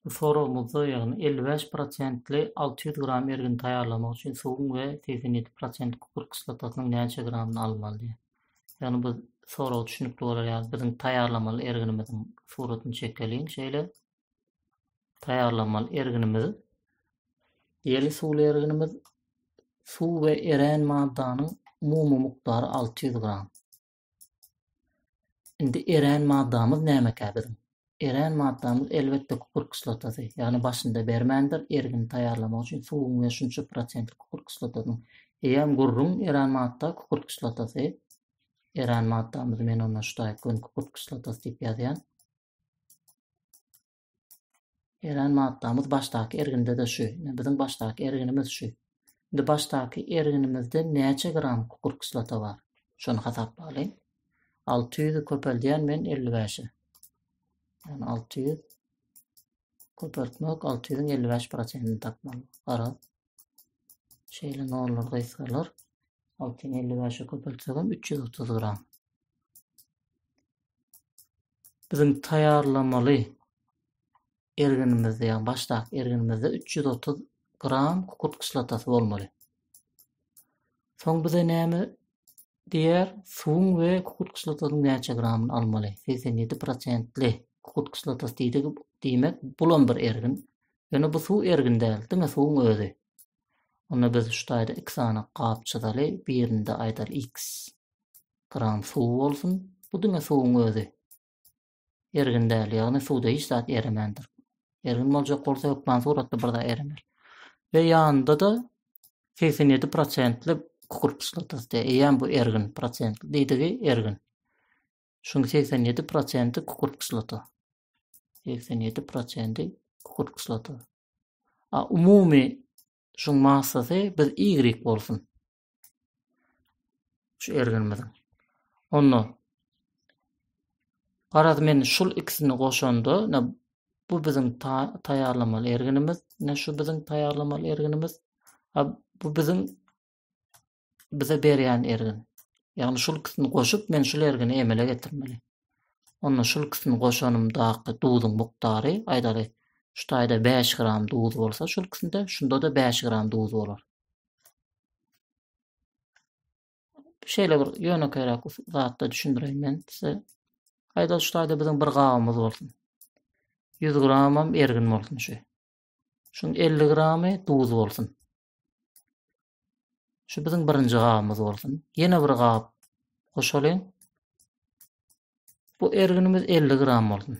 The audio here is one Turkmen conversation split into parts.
Bu soragymyzda, ýagny elli bäş prosentli alty ýüz gram ergini taýýarlamak üçin suwuň we segsen ýedi prosent kükürt kislotasynyň näçe gramyny almaly diýýär. Ýagny bu sorag düşünikli bolar ýaly biziň taýýarlamaly erginimiziň suratyny çekeliň şeýle. taýýarlamaly erginimiz ýeli suwly erginimiz suw we erän maddanyň umumy mukdary 600 gram. Indi erän maddamyz nämekä biziň? Erän maddamyz elbetde kupur kislotasy. Ýagny başynda bermändir, ergini taýýarlamak üçin suwuň we şunça prosentli kupur kislotasynyň. Eýýäm gürrüň erän madda kupur kislotasy. Erän maddamyzy men onda şu taýyp gön kupur kislotasy diýip ýazýan. Eren maddamyz başdaky erginde-de şu. Ine, biziň başdaky erginimiz şu. Indi başdaky erginimizde näçe gram kükürt kislota bar? Şony hasaplalyň. Alty ýüzi köpeldýän men elli bäşe. Ýagny alty ýüz köpeltmek alty ýüzüň elli bäş prosentini tapmaly. Gara. Şeýle nollar gysgalar. Alty ýüz elli bäşe köpeltsegem üç ýüz otuz gram. Biziň taýýarlamaly erginimizde, ýagny başdaky erginimizde üç ýüz otuz gram kukurt kislotasy bolmaly. Soň bize näme diýer? Suwuň we kukurt kislotasynyň näçe gramyny almaly? Segsen ýedi prosentli kukurt kislotasy diýdik, diýmek, bulam bir ergin. Ýöne bu suw ergin däl, diňe suwuň özi. Onda biz şu taýda iki sany gap çyzaly, birinde aýdaly x. Kran suw bolsun, bu diňe suwuň özi. Ergin däl, ýagny suwda hiç zat eremändir. Ergin boljak bolsa hökman suratda bir zat erener. We ýanynda-da segsen ýedi prosentli kükürt kislotasy, eýýäm bu ergin prosentli diýdigi ergin. Şuň segsen ýedi prosenti kükürt kislota. Segsen ýedi prosenti kükürt kislota. A umumy şuň massasy biz Y bolsun. Şu erginimiziň. Onda garaz men şul ikisini goşanda, ne bu biziň taýýarlamaly erginimiz, ne şu biziň taýýarlamaly erginimiz, a bu biziň bize berýän ergin. Ýagny şul ikisini goşup men şul ergini emele getirmeli. Onda şul ikisini goşanymdaky duzuň mukdary, aýdaly, şu taýda 5 gram duz bolsa şul ikisinde, şunda-da 5 gram duz bolar. Şeýle bir ýönekeýräk zatda düşündireýin men size. Haýda şu taýda biziň bir gabymyz bolsun. 100 gramam ergin bolsun şu. Şuň 50 gramy duz bolsun. Şu biziň birinji gabymyz bolsun. Ýene bir gap goşalyň. Bu erginimiz 50 gram bolsun.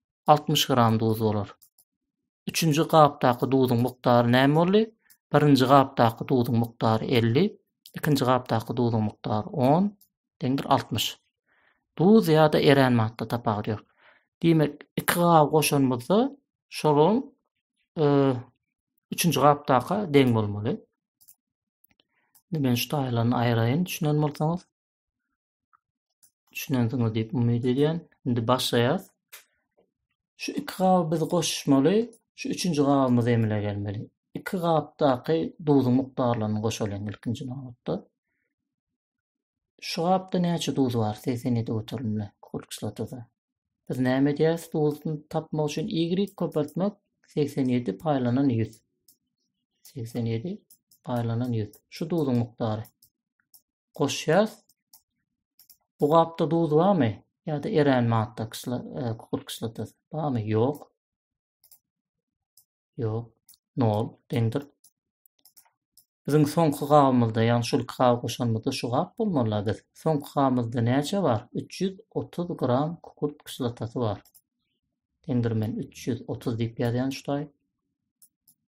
altmyş gram duz bolar. Üçünji gapdaky duzuň mukdary näme boldy? Birinji gapdaky duzuň mukdary elli, ikinji gapdaky duzuň mukdary on, deňdir altmyş. Duz ýa-da erän madda tapawudy ýok. Diýmek, iki gap goşanymyzda şolaryň üçünji gapdaka deň bolmaly. Men şu taýlaryny aýraýyn düşünen bolsaňyz. Düşünensiňiz diýip umyt edýän. Indi başlaýas. Şu iki gaby biz goşmaly, şu üçünji gabymyz emele gelmeli. Iki gapdaky duzuň mukdarlaryny goşalyň ilkinji nobatda. Şu gapda näçe duz bar? 87 göterimli kulkslatoda. Biz näme edýäs? Duzuny tapmak üçin y köpeltmek 87 paýlanan 100. 87 paýlanan 100. Şu duzuň mukdary. goşýarys. Bu gapda duz barmy? Ýa-da erän madda kysla, e, kukurt kislotasy barmy? Ýok. Ýok. 0 deňdir. Biziň soňky gabymyzda, ýagny şol iki gaby goşanymyzda şu gap bolmaly biz. Soňky gabymyzda näçe bar? 330 gram kukurt kislotasy bar. Deňdir men 330 diýip ýazýan şutaý.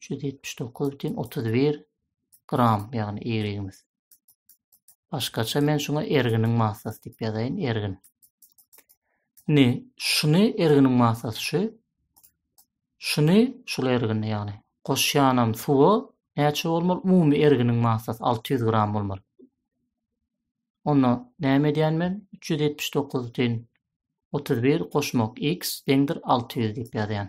379,31 gram, ýagny ýerimiz. Başgaça men şuňa erginiň massasy diýip ýazaýyn, ergin. Indi şuny erginiň massasy şu. Şuny şul ergini ýagny goşýanam suwa näçe bolmaly? Umumy erginiň massasy 600 gram bolmaly. Onda näme edýän men? 379 31 goşmak x deňdir 600 diýip ýazýan.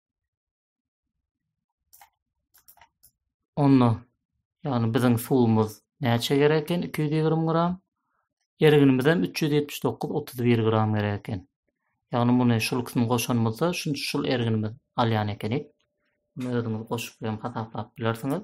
Onda, ýagny biziň suwumyz näçe gerek eken? 220 gram. Erginimiz hem 379 31 gram gerek eken. Ýagny muny şul ikisini goşanymyzda şunça şul erginimiz alýan ekenik. Muny özüňiz goşup hem hasaplap bilersiňiz.